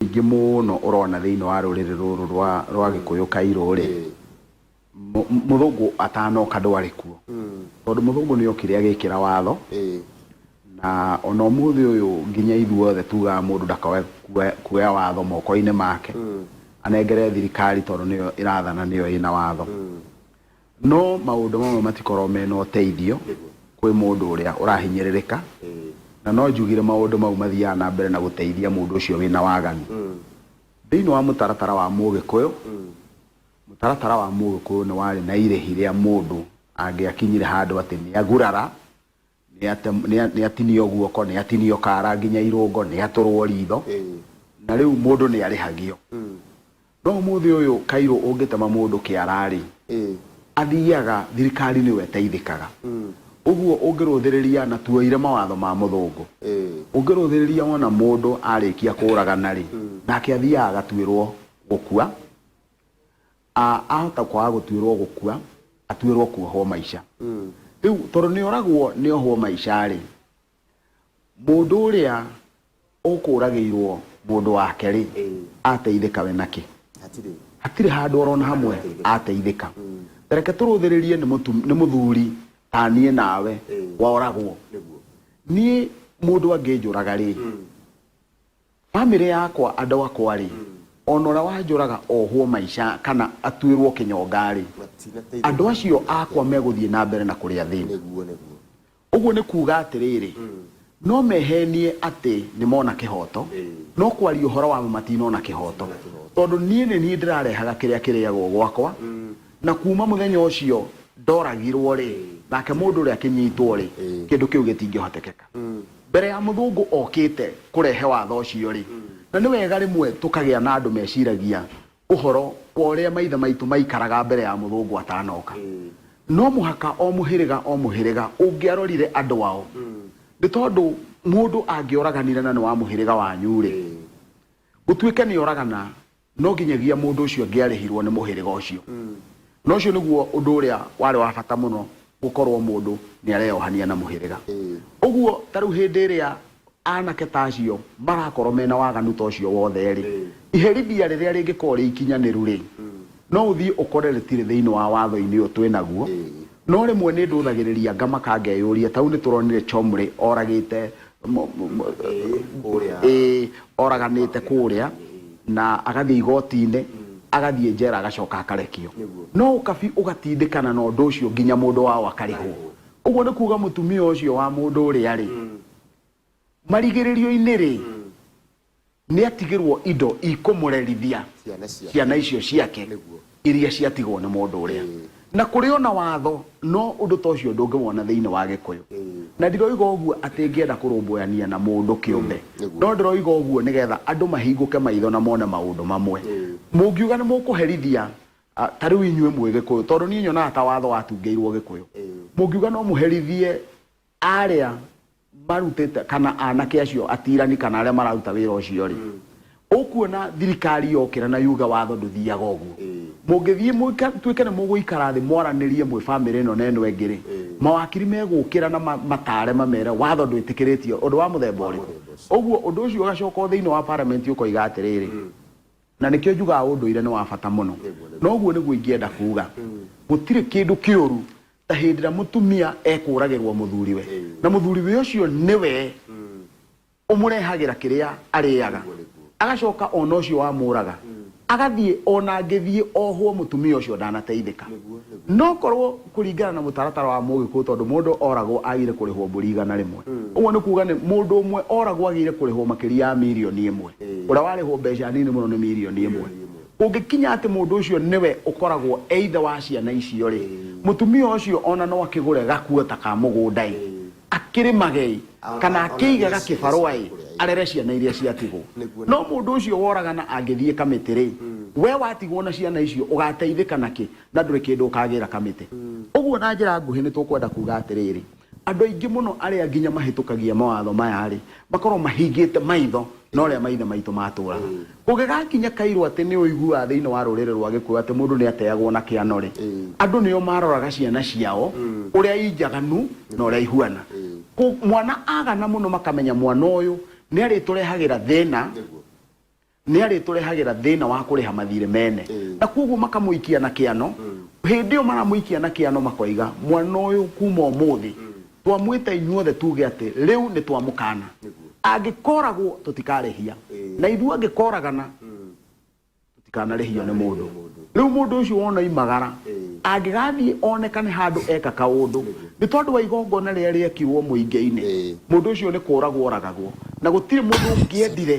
Ingĩ mũno ũrona thĩinĩ wa rũrĩrĩ rũrũ rwa rwa gĩkũyũ kairũ rĩ mũ- mũthũngũ atanoka ndwarĩ kuo tondũ mũthũngũ nĩ okire agĩkĩra watho na ona ũmũthĩ ũyũ nginya ithuothe tugaga mũndũ ndakae kuoya- kuoya watho moko-inĩ make anengere thirikari tondũ nĩyo ĩrathana nĩyo ĩna watho No maũndũ mamwe matikoragwo mena ũteithio kwĩ mũndũ ũrĩa ũrahinyĩrĩrĩka, na no njugire maũndũ mau mathiaga na mbere na gũteithia mũndũ ũcio wĩna waganu. Thĩinĩ wa mũtaratara wa Mũgĩkũyũ, mũtaratara wa Mũgĩkũyũ nĩ warĩ na irĩhi rĩa mũndũ angĩakinyire handũ atĩ nĩ agurara Nĩatinio guoko, nĩatinio kaara nginya irũngo, nĩatũrwo ritho, na rĩu mũndũ nĩarĩhagio. No ũmũthĩ ũyũ Cairo ũngĩtema mũndũ kĩara-rĩ, athiaga thirikari nĩyo ĩteithĩkaga. Ũguo ũngĩrũthĩrĩria, na tuoire mawatho ma mũthũngũ, ũngĩrũthĩrĩria wona mũndũ arĩkia kũragana-rĩ, nake athiaga agatuĩrwo gũkua, a ahota kwaga gutuirwo gukua atuirwo kuohwo maica riu tondu ni oragwo ni ohwo maica ri mundu uria ukuragiirwo mundu wake ri ateithika we naki hatirĩ hatirĩ handå orona hamwe ateithĩka reke tå rå thä rä rie nä må thuri ta niä nawe woragwo nĩguo niä må ndå angä njå raga rä Bamĩrĩ yakwa andũ akwa rĩ, ona ũrĩa wanjũraga ohwo maica kana atuĩrwo kĩnyonga rĩ, andũ acio akwa megũthiĩ na mbere na kũrĩa thĩna. Ũguo nĩ kuuga atĩrĩrĩ, no mehenie atĩ nĩ mona kĩhooto, no kwaria ũhoro wa ma matinona kĩhooto, tondũ niĩ nĩ niĩ ndĩrarehaga kĩrĩa kĩrĩagwo gwakwa, na kuma muthenya ucio ndoragirwo ri nake mundu uria akinyitwo ri Ĩĩ. kindu kiu gitingihotekeka mbere ya muthungu okite kurehe watho ucio ri na ni wega rimwe tukagia na andu meciragia uhoro wa uria maithe maitu maikaraga mbere ya muthungu atanoka no muhaka o muhiriga o muhiriga ungiarorire andu wao ni tondu mundu angioraganire na ni wa muhiriga wanyu ri gutuike ni oragana No nginyagia mũndũ ũcio angĩarĩhirũo nĩ mũhĩrĩga ũcio. Na ũcio nĩguo ũndũ ũrĩa warĩ wa bata mũno, gũkorũo mũndũ nĩ areyohania na mũhĩrĩga. Ũguo ta rĩu hĩndĩ ĩrĩa anake ta acio marakorũo mena waganu ta ũcio wothe-rĩ, iherithia rĩrĩa rĩngĩkorũo rĩ ikinyanĩru-rĩ, no ũthiĩ ũkore rĩtirĩ thĩinĩ wa watho-inĩ ũyũ twĩ naguo, No rĩmwe nĩ ndũthagĩrĩria ngamaka ngeyũria ta rĩu nĩ tũronire Chomri oragĩte oraganĩte kũrĩa na agathiĩ igoti-inĩ agathiĩ njera agacoka akarekio no ũkabi ũgatindĩkana na ũndũ ũcio nginya mũndũ wao akarĩhwo ũguo nĩ kuga mũtumia ũcio wa mũndũ ũrĩa rĩ marigĩrĩrio-inĩ rĩ nĩatigĩrwo indo ikũmũrerithia ciana ciake ciana icio ciake nĩguo iria ciatigwo nĩ mũndũ ũrĩa Ĩĩ. na kũrĩ ona watho no ũndũ ta ũcio ndũngĩwona thĩinĩ wa gĩkũyũ Ĩĩ. na ndiroiga ũguo atĩ ngĩenda kũrũmbũyania na mũndũ kĩũmbe nĩguo. no ndĩroiga ũguo nĩgetha andũ mahingũke maitho na mone maũndũ mamwe Ĩĩ. mũngiuga nĩ mũkũherithia ah, ta rĩu inyuĩ mwĩ gĩkũyũ tondũ niĩ nyonaga ta watho watungĩirwo gĩkũyũ Ĩĩ. mũngiuga no mũherithie arĩa marutĩte kana anake acio atirani kana arĩa mararuta wĩra ũcio rĩ ũkuona thirikari yokĩra na yuga watho ndũthiaga ũguo mũngĩthiĩ mũika- tuĩke nĩ mũgũikara thĩ mwaranĩrie mwĩ bamĩrĩ ĩno na ĩno ĩngĩ rĩ mawakiri megũkĩra na ma- matare mamere watho ndwĩtĩkĩrĩtio ũndũ wa mũthemba ũrĩkũ ũguo ũndũ ũcio ũgacoka o thĩinĩ wa parliament ũkoiga atĩrĩrĩ Na nĩkĩo njugaga ũndũire nĩ wa bata mũno. Na ũguo nĩguo ingĩenda kuuga. Gũtirĩ kĩndũ kĩũru ta hĩndĩ ĩrĩa mũtumia ekũũragĩrũo mũthuriwe. Na mũthuriwe ũcio nĩwe ũmũrehagĩra kĩrĩa arĩaga. Agacoka o na ũcio wamũũraga agathiĩ o na angĩthiĩ ohwo mũtumia ũcio ndanateithĩka. No korũo. Kũringana na mũtaratara wa Mũgĩkũyũ tondũ mũndũ oragwo agĩrĩire kũrĩhwo mbũri igana rĩmwe. Ũguo nĩ kuuga nĩ mũndũ ũmwe oragwo agĩrĩire kũrĩhwo makĩria ya mirioni ĩmwe. Ũrĩa warĩhwo mbeca nini mũno nĩ mirioni ĩmwe. Kũngĩkinya atĩ mũndũ ũcio nĩwe ũkoragwo e ithe wa ciana icio-rĩ, mũtumia ũcio o na no akĩgũre gakuota ka mũgũnda-ĩ, akĩrĩmage-ĩ, kana akĩige ga kĩbarũa-ĩ, arere ciana iria ciatigwo. No mũndũ ũcio woragana angĩthiĩ kamĩtĩ-rĩ, wee watigwo na ciana icio ũgateithĩka na kĩ? na ndũrĩ kĩndũ ũkagĩra kamĩtĩ. Ũguo na njĩra nguhĩ nĩ tũkwenda kuuga atĩrĩrĩ, andũ aingĩ mũno arĩa nginya mahĩtũkagia mawatho maya-rĩ, makorwo mahingĩte maitho na ũrĩa maithe maitũ matũũraga. Kũngĩgakinya kairũ atĩ nĩ ũiguaga thĩinĩ wa rũrĩrĩ rwa Gĩkũyũ atĩ mũndũ nĩ ateagwo na kĩano-rĩ, andũ nĩo maroraga ciana ciao ũrĩa i njaganu na ũrĩa ihuana. Mwana agana mũno makamenya mwana ũyũ nĩ arĩtũrehagĩra thĩna. Nĩarĩtũrehagĩra thĩna wa kũrĩha mathiirĩ mene, na kwoguo makamũikia na kĩano. Hĩndĩ ĩyo maramũikia na kĩano makoiga, Mwana ũyũ kuuma ũmũthĩ twamwĩta inyuothe tuuge atĩ, 'Rĩu nĩtwamũkaana. Angĩkooragwo tũtikaarĩhia, na ithuĩ angĩkooragana tũtikaanarĩhio nĩ mũndũ. Rĩu mũndũ ũcio wona oimagara, angĩgaathiĩ onekane handũ eka kaũndũ, nĩ tondũ wa igongona rĩrĩa rĩekirwo mũingĩ-inĩ, mũndũ ũcio nĩkũũragwo ooragagwo. Na gũtirĩ mũndũ ũngĩendire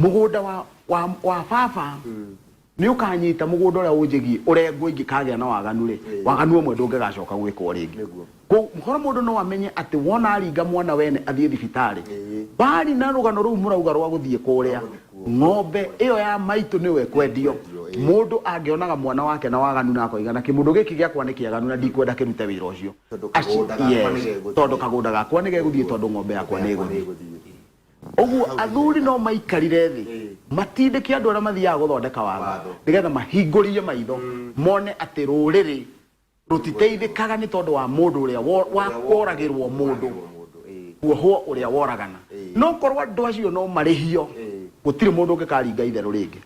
mũgũnda wa, wa, wa baba nĩ ũkanyita mũgũnda ũrĩa ũnjĩgiĩ ũrengwo ingĩkagĩa na waganu rĩ waganu ũmwe ndũngĩgacoka gwĩkwo rĩngĩ Nĩguo. Kũ- mũhoro mũndũ no amenye atĩ wona aringa mwana wene athiĩ thibitarĩ Ĩĩ. bari na rũgano rũu mũrauga rwa gũthiĩ kũrĩa ng'ombe ĩyo ya maitũ nĩyo ĩkwendio Ĩkwendio, ĩĩ. mũndũ angĩonaga mwana wake na waganu na akoiga na kĩmũndũ gĩkĩ gĩakwa nĩ kĩaganu na ndikwenda kĩrute wĩra ũcio Tondũ Aci- kagũnda gakwa yes, nĩgegũthiĩ. tondũ kagũnda gakwa nĩ gegũthiĩ tondũ ng'ombe yakwa nĩ ĩgũthiĩ ũguo athuri no maikarire thĩ matindĩke andũ arĩa mathiaga gũthondeka watho nĩgetha mahingũrie maitho mone atĩ rũrĩrĩ rũtiteithĩkaga nĩ tondũ wa mũndũ ũrĩa wo- wa- woragĩrwo mũndũ kuohwo ũrĩa woragana no korwo andũ acio no marĩhio gũtirĩ mũndũ ũngĩkaringa itherũ rĩngĩ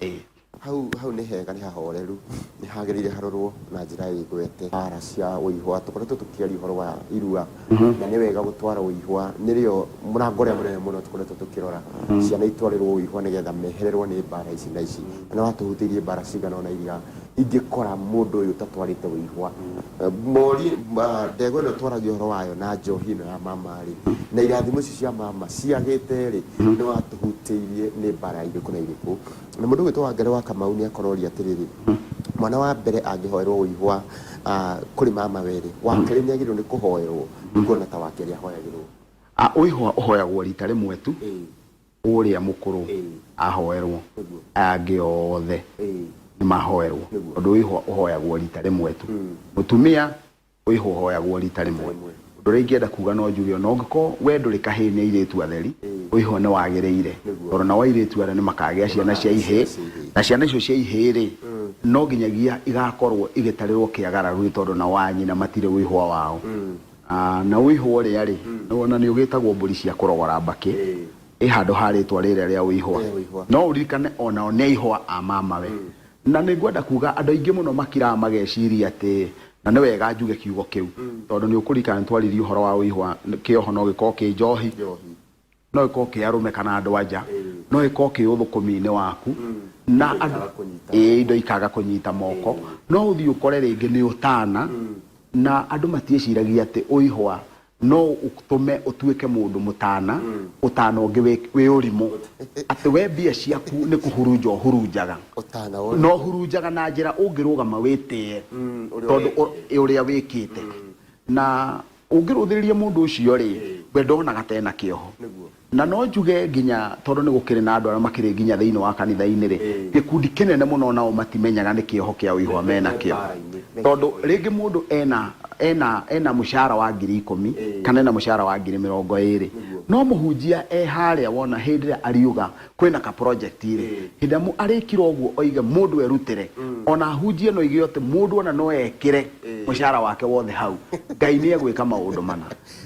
Ĩĩ. Hau hau nĩ hega nĩ hahoreru, nĩ hagĩrĩire harorwo na njĩra ĩgwete. Mbaara cia ũihwa, tũkoretwo tũkĩaria ũhoro wa irua, na nĩ wega gũtwara ũihwa, nĩrĩo mũrango ũrĩa mũnene mũno tũkoretwo tũkĩrora, ciana itwarĩrwo ũihwa nĩgetha mehererwo nĩ mbaara ici na ici. Na nĩ watũhutĩirie mbaara cigana ũna iria ingĩkora mũndũ ũyũ ũtatwarĩte ũihwa. Morie, ndegwa ĩno twaragia ũhoro wayo na njohi ĩno ya mama-rĩ, na irathimo ici cia mama ciagĩte-rĩ, nĩ watũhutĩirie nĩ mbaara irĩkũ na irĩkũ. Na mũndũ ũgwĩtwo Wangari wa Kamau nĩakorori atĩrĩrĩ, mwana wa mbere angĩhoerwo ũihwa kũrĩ mama werĩ, wa kerĩ nĩagĩrĩirwo nĩ kũhoerwo nĩguo ona ta wa kerĩ ahoyagĩrwo. Ũihwa ũhoyagwo rita rĩmwe tu, ũrĩa mũkũrũ ahoerwo, aya angĩ othe nĩmahoerwo tondũ ũihwa ũhoyagwo rita rĩmwe tu. Mũtumia ũihũhoyagwo rita rĩmwe ũndũ ũrĩa ingĩenda kuga no njuge ona ũngĩkorwo we ndũrĩ kahĩĩ nĩ airĩtu atheri ũihũho nĩ wagĩrĩire tondũ nao airĩtu arĩa nĩ makagĩa ciana cia ihĩĩ na ciana icio cia ihĩĩ rĩ no nginyagia igakorwo igĩtarĩrwo kĩagararu nĩ tondũ nao a nyina matirĩ ũihũa wao Ah, na ũihũa ũrĩa rĩ ona nĩ ũgĩtagwo mbũri cia kũrogora mbakĩ ĩ handũ ha rĩtwa rĩrĩa rĩa ũihũa no ũririkane onao nĩ aihũa a mamawe Na nĩ ngwenda kuuga andũ aingĩ mũno makiraga mageciria atĩ na nĩ wega njuge kiugo kĩu tondũ nĩ ũkũririkana nĩ twaririe ũhoro wa ũihwa kĩoho no gĩkorwo kĩ njohi no gĩkorwo kĩ arũme kana andũ anja no gĩkorwo kĩ ũthũkũmi-inĩ waku na ĩĩ indo ikaga kũnyita moko no ũthiĩ ũkore rĩngĩ nĩ ũtana na andũ matiĩciragia atĩ ũihwa no ũtũme ũtuĩke mũndũ mũtana ũtana ũngĩ wĩ wĩ ũrimũ atĩ we mbia ciaku nĩ kũhurunja ũhurunjaga Ũtana ũyũ. no hurunjaga na njĩra ũngĩrũgama wĩtĩe Mm, ũrĩa tondũ wĩkĩte. ũ- ũrĩa wĩkĩte na ũngĩrũthĩrĩria mũndũ ũcio rĩ we ndonaga tena kĩoho Nĩguo. Na no njuge nginya tondũ nĩ gũkĩrĩ na andũ arĩa makĩrĩ nginya thĩinĩ wa kanitha-inĩ-rĩ, gĩkundi kĩnene mũno o nao matimenyaga nĩ kĩoho kĩa ũihwa me nakĩo. Tondũ rĩngĩ mũndũ ena, ena, ena mũcara wa ngiri ikũmi, kana ena mũcara wa ngiri mĩrongo ĩrĩ, no mũhunjia e harĩa wona hĩndĩ ĩrĩa ariuga kwĩna ka project-rĩ, hĩndĩ ĩrĩa arĩkira ũguo oige mũndũ erutĩre, o na ahunjie na oige atĩ mũndũ o na no ekĩre mũcara wake wothe hau, Ngai nĩ egwĩka maũndũ mana.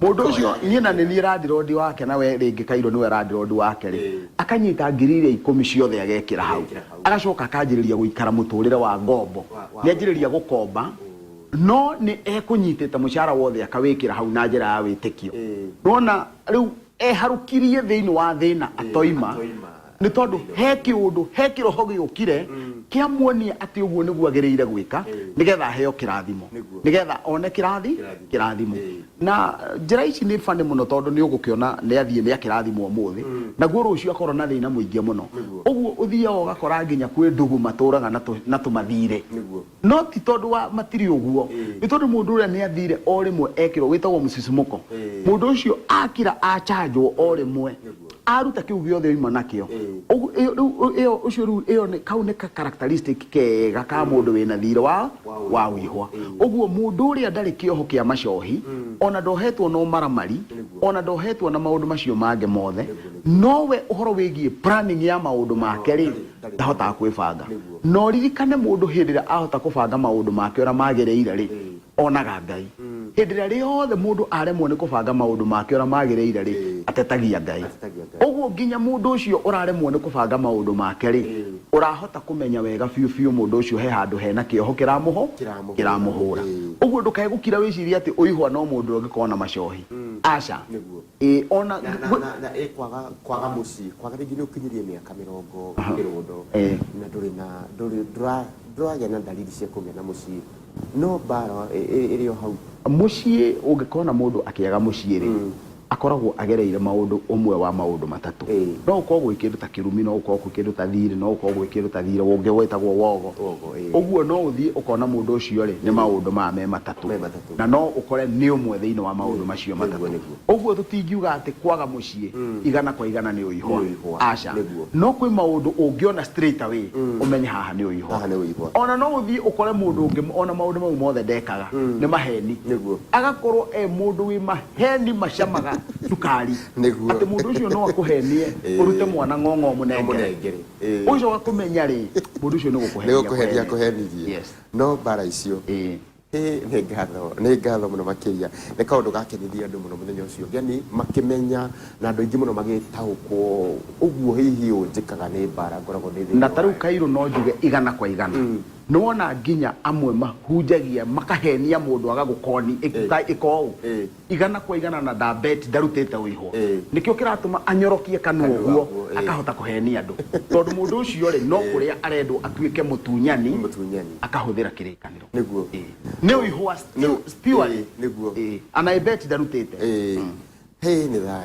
Mũndũ ũcio niĩ na nĩ niĩ randirodi wake na we rĩngĩ Kairũ nĩwe randirodi wake-rĩ, akanyita ngiri iria ikũmi ciothe agekĩra hau, agacoka akanjĩrĩria gũikara mũtũrĩre wa ngombo. Nĩ anjĩrĩria gũkomba no nĩ ekũnyitĩte mũcara wothe akawĩkĩra hau na njĩra ya wĩtĩkio. Nĩ wona rĩu. Eharũkirie thĩinĩ wa thĩna atoima, nĩ tondũ he kĩũndũ, he kĩroho gĩokire kĩamuonia atĩ ũguo nĩguo agĩrĩire gwĩka nĩgetha aheo kĩrathimo, nĩgetha one kĩrathi, kĩrathimo. Na njĩra ici nĩ funny mũno tondũ nĩ ũgũkĩona nĩ athiĩ nĩ akĩrathimwo ũmũthĩ, naguo rũciũ akorwo na thĩna mũingĩ mũno. Ũguo ũthiaga ũgakora nginya kwĩ ndũgũ matũraga na tũ, na tũmathirĩ. No ti tondũ wa matirĩ ũguo, nĩ tondũ mũndũ ũrĩa nĩ athire o rĩmwe ekĩrwo wĩtagwo mũcicimũko. Mũndũ ũcio akira achanjwo o rĩmwe, aruta kĩu gĩothe oima nakĩo. Ũcio rĩu, kau nĩ ka characteristic kega ka mũndũ wĩna thiirĩ wa wĩhwa. Ũguo mũndũ ũrĩa ndarĩ kĩoho kĩa macohi, o na ndohetwo na ũmaramari, o na ndohetwo na maũndũ macio mangĩ mothe, no we ũhoro wĩgiĩ planning ya maũndũ make-rĩ, ndahotaga kwĩbanga no ririkane mũndũ hĩndĩ ĩrĩa ahota kũbanga maũndũ make ũrĩa magĩrĩire rĩ onaga ngai hĩndĩ ĩrĩa rĩothe mũndũ aremwo nĩ kũbanga maũndũ make ũrĩa magĩrĩire rĩ atetagia ngai ũguo nginya mũndũ ũcio ũraremwo nĩ kũbanga maũndũ make rĩ ũrahota kũmenya wega biũ biũ mũndũ ũcio he handũ hena kĩoho kĩramũho kĩramũhũra ũguo ndũkae gũkira wĩcirie atĩ ũihwa no mũndũ ũrĩa ũngĩkorwo na macohi aca Ĩ o na, Na, na, ngwĩ- na, na ĩ kwaga, kwaga mũciĩ, kwaga rĩngĩ nĩ ũkinyĩrie mĩaka mĩrongo kĩrũndo, Eh. na ndũrĩ na, ndũrĩ, ndũra, ndũragĩa na ndariri cia kũgĩa na mũciĩ, no mbaara ĩ- ĩ- ĩrĩ o hau. mũciĩ ũngĩkorwo na mũndũ akĩaga mũciĩ rĩ akoragwo agereire maũndũ ũmwe wa maũndũ matatũ Ĩĩ. no gũkorwo gwĩ kĩndũ ta kĩrumi no gũkorwo gwĩ kĩndũ ta thirĩ no gũkorwo gwĩ kĩndũ ta thirĩ ũngĩ wĩtagwo wogo Wogo, ĩĩ. ũguo no ũthiĩ ũkona mũndũ ũcio rĩ nĩ maũndũ maya me matatũ Me matatũ. na no ũkore nĩ ũmwe thĩinĩ wa maũndũ macio Nĩguo, matatũ. nĩguo. Ũguo tũtingiuga atĩ kwaga mũciĩ igana kwa igana nĩ Nĩ ũihwa. ũihwa. Aca. Nĩguo. No kwĩ maũndũ ũngĩona straight away ũmenye haha nĩ ũihwa. Haha nĩ ũihwa. Ona no ũthiĩ ũkore mũndũ ũngĩ ona maũndũ mau mothe ndekaga nĩ maheni. Nĩguo. Agakorwo e mũndũ wĩ maheni macamaga cukari. Nĩguo. Atĩ mũndũ ũcio no akũhenie Ĩĩ. ũrute mwana ng'ong'o ũmũnengere. Ũmũnengere. Ĩĩ. Ũgĩcoka kũmenya rĩ, mũndũ ũcio nĩ Nĩ gũkũhenia gũkũhenia akũhenirie. akũhenirie. Yes. No mbara icio Ĩĩ. Ĩĩ, nĩ ngatho nĩ ngatho mũno makĩria nĩ kaũndũ gakenirie andũ mũno mũthenya ũcio ũgeni makĩmenya na andũ aingĩ mũno magĩtaũkwo ũguo hihi ũũ njĩkaga nĩ mbara ngoragwo ndĩ thĩinĩ na ta rĩu wayo. kairũ no njuge igana kwa igana nĩ wona nginya amwe mahunjagia makahenia mũndũ agagũkoni ĩka ĩka ũũ Ĩĩ. Igana kwa igana na nda bet ndarutĩte ũihwo. Nĩkĩo kĩratũma anyorokie kanua ũguo akahota kũhenia andũ. Tondũ mũndũ ũcio rĩ no kũrĩa arendwo atuĩke mũtunyani akahũthĩra kĩrĩkanĩro. Nĩ ũihwa still purely. Anaĩ bet ndarutĩte. Hey nĩ thayũ.